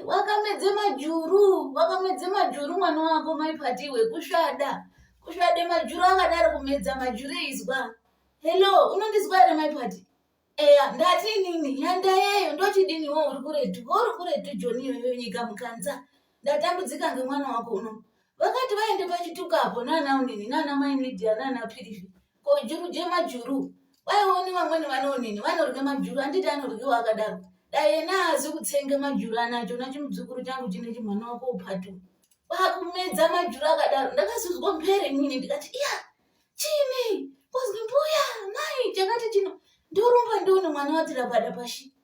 wakamedze majuru wakamedze majuru mwana wako maipatiwe kusvada kusvade majuru akadaro kumedza majuru eizwa hello unondizwa here maipati eya ndati inini nyanda yeyo ndochidini wo uri kuretu wo uri kuretu joni iyoyo nyika mukanza ndatambudzika ngemwana wako uno vakati vaende pachitukapo nana unini nana mai midia nana pirivi ko juru jemajuru waioni vamweni vanoonini vanorya majuru handiti anoryiwa akadaro dai yena haazi kutsenga majuru anacho na chimudzukuru changu chine chimwana wako upatu kwakumedza majuru akadaro ndakazozwa mpere inini ndikati iya chini kuzwi mbuya mai chakati chino ndorumba ndione mwana watirapadapashi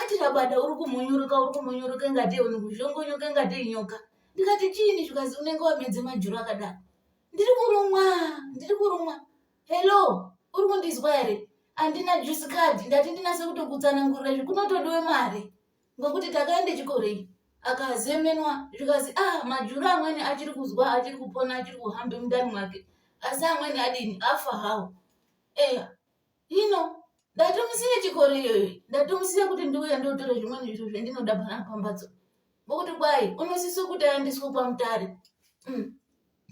Ati Rabada uri kumunyuruka uri kumunyuruka ingatei uri kuzhongonyoka ingatei nyoka. Ndikati chiini zvikazi unenge wamedze majuru akadaro. Ndiri kurumwa, ndiri kurumwa. Hello, uri kundizwa here? Andina juice card, ndati ndinase kutokutsanangurira izvi kunotodiwe mari. Ngokuti takaende chikorei. Akazemenwa zvikazi ah majuru amweni achiri kuzwa achiri kupona achiri kuhambe mundani mwake. Asi amweni adini afa hawo. Eya. Hino ndatomusiya chikoro iyoyo ndatomusiya kuti ndiuya ndotore zvimweni zviro zvendinoda pana pambatso ngokuti kwai unosisa kuti aendeswe kwamutare mm.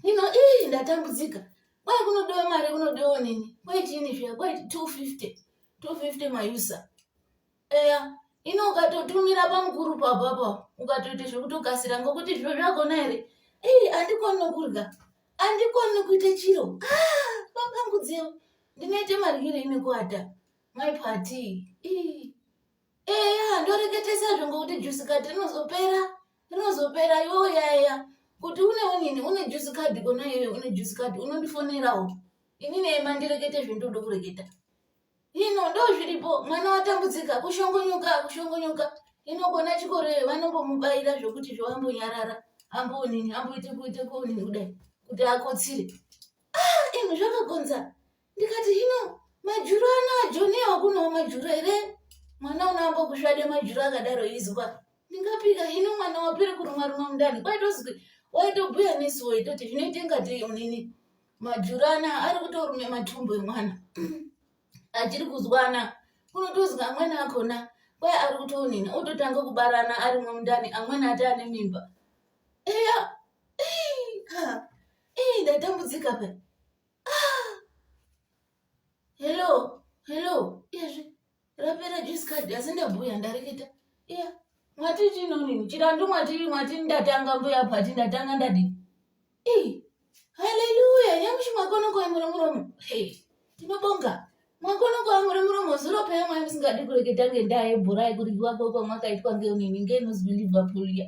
hino ii ndatambudzika kwai kunodiwa mari kunodiwa nini kwai chini zviya kwai 250 250 mayusa eya ino ukatotumira pamukuru papapa ukatoita zvekutokasira ngokuti zviro zvagona here ei andikoni nokurya andikoni nokuita chiro ah, papangudzeo ndinoita maryirei nekuata mai pati eya ndoreketesa zvo ngokuti jusi kati rinozopera rinozopera yoo yaya kuti une unini une jusi kadhi kona iyoyo une jusi kadhi unondifonerawo inini ema ndirekete zvendoda kureketa ino ndo zviripo mwana watambudzika kushongonyuka kushongonyuka inogona chikoro iyo vanombomubaira zvokuti zvovambonyarara ambonini amboite kuite konini kudai kuti akotsire ah, ino zvakagonza ndikati hino majuru ano ajoniwa kunowo majuru here mwana unoamba kusvade majuru akadaro izwa ndingapika hino mwana wapere kurumwa rumwa mundani kwaitozwi waitobhuya nesu waitoti zvinoite ngatei unini majuru anaya ari kutorume matumbu emwana achiri kuzwana unotozwa amweni akona kwai ari kutonina ototanga kubarana arimwo mundani amweni ati ane mimba eya ii ndatambudzika pa ah! hello hello iyezvi rapera juice card asi ndabhuya ndareketa iya mwati chinonini chirandu mwati mwati ndatanga mbuya pati ndatanga ndadi ii haleluya nyamushi mwakono kwaimura muromo hey tinobonga mwakono kwaimura muromo zuro paya mwai musingadi kureketa ngendaa yebhura yekuryiwa kwekwa mwakaitwa ngeunini ngeinozibhilivha puliya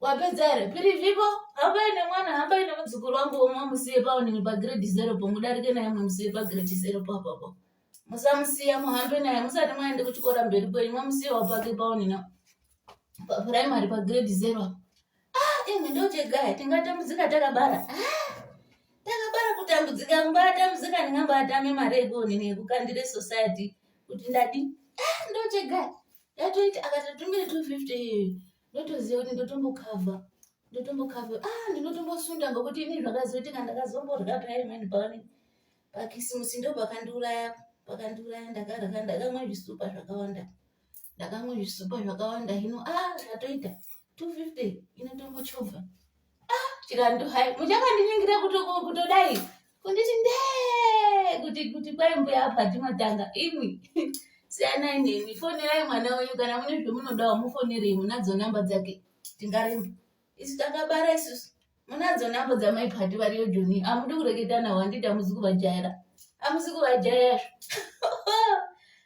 wapedza here pirivivo hambai nemwana hambai nemudzukuru wangu womwe amusiye paonini pagrade zero po mudarike naye mwamusiye pagrade zero po apapo musamusiya muhambe naye musati mwaende kuchikora mberi kwenyu mwamusiyawo pake paonini papuraimary pagrade zero apo ah imwe ndochegaya tingatambudzika takabara ah takabara kutambudzika mbatambudzika ndingambatame mari yekuonini yekukandire society kuti ndadi ah ndochegaya yatoita akati tumbiri two fifty ndotoziva kuti ndotombokavha ndotombokavha ah ndinotombosunda ngokuti ini zvakazoitika ndakazomborya paye mani paone pakisimusi ndo pakandiuraya pakandiuraya ndakarya ndakamwa zvisupa zvakawanda ndakamwa zvisupa zvakawanda hino ah zvatoita two fifty inotombochovha ah chikandu hai muchakandiningira kutodai kunditi ndee kuti kuti kwai mbuya apa timatanga imwi siyanai nemi fonerai mwana wenyu kana mune zvemunodawo mufonerei munadzo namba dzake tingaremba isu takabara isusu munadzo namba dzamaiphati variyo joni amudi kureketa nawo handiti amuzi kuvajaira amuzi kuvajaira